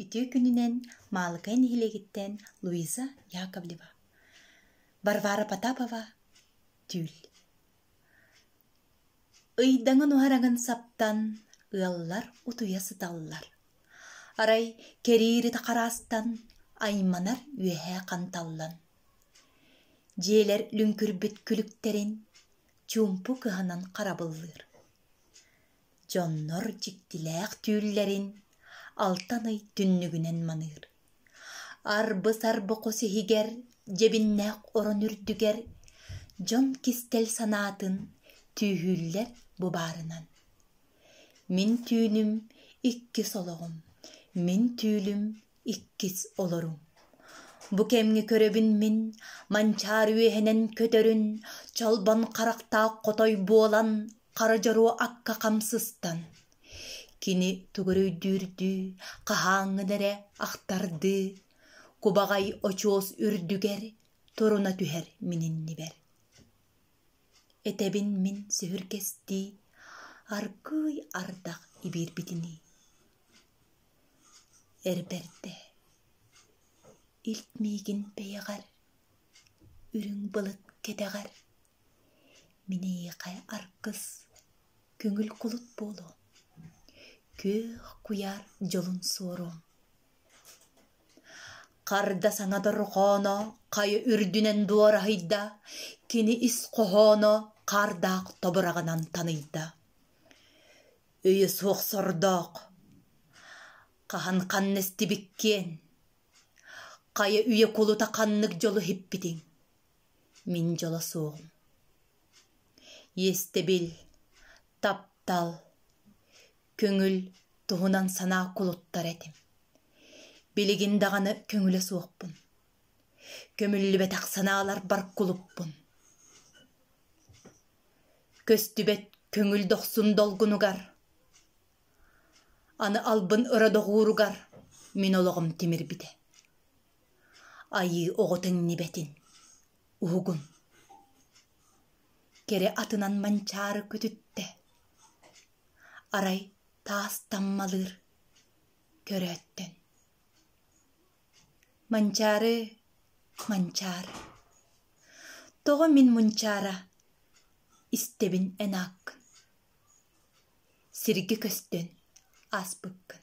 Үтүө күнүнэн Маалыкай нэһилиэгиттэн Луиза Яковлева, Варвара Потапова түүл Ыйдаҥын-уһараҥын саптан ыаллар утуйа сыталлар. Арай кэриирит хараастан айманар үөһэ ханталлан. Дьиэлэр лүҥкүрбүт күлүктэрин чуумпу кыһанан харабыллыыр. Дьоннор дьиктилээх түүллэрин алтан ый түннүгүнэн маныыр. Арбы-сарбы хос иһигэр дьэбиннээх орон үрдүгэр дьон кистэл санаатын түүһүүллэр бу баарынан. Мин түүнүм икки солоҕум, мин түүлүм иккис олоруҥ бу кэмҥэ көрөбүн мин манчаары үөһэнэн көтөрүн чолбон харахтаах хотой буолан хара дьоруо акка хам сыстан кини тугу өйдүүрдүү хаһааҥҥын эрэ ахтардыы кубаҕай очуос үрдүгэр туруна түһэр мин иннибэр этэбин мин сүһүргэстии аргыый ардах ибиирбитинии Эр бэрдэ, илт миигин бэйэҕэр, үрүҥ былыт кэтэҕэр, миниихэ аргыс, көҥүл кулут буолуо, күөх куйаар дьолун суоруом. Харда саҥа дорҕооно хайа үрдүнэн дуораһыйда, кини ис хоһооно хаардаах тобураҕынан таныйда. өйө суох сордоох хаһан ханна истибиккиэн хайа үйэ кулута ханнык дьолу иһиппитиҥ мин дьоло суоҕум иэстэбил таптал көҥүл туһунан санаа кулуттар этим билигин даҕаны көҥүлэ суохпун Көмүллүбэтэх санааларбар кулуппун Көстүбэт көҥүл дохсун долгунугар Аны албын ыра доҕууругар Мин олоҕум тимирбитэ Айыы оҕо тэҥнибэтин уһугун Кэрэ атынан манчаары күтүттэ Арай таас таммалыыр көрөөттөн Манчаары, Манчаар, тоҕо мин мунчаара истэбин эн ааккын сиргэ көстөн ааспыккын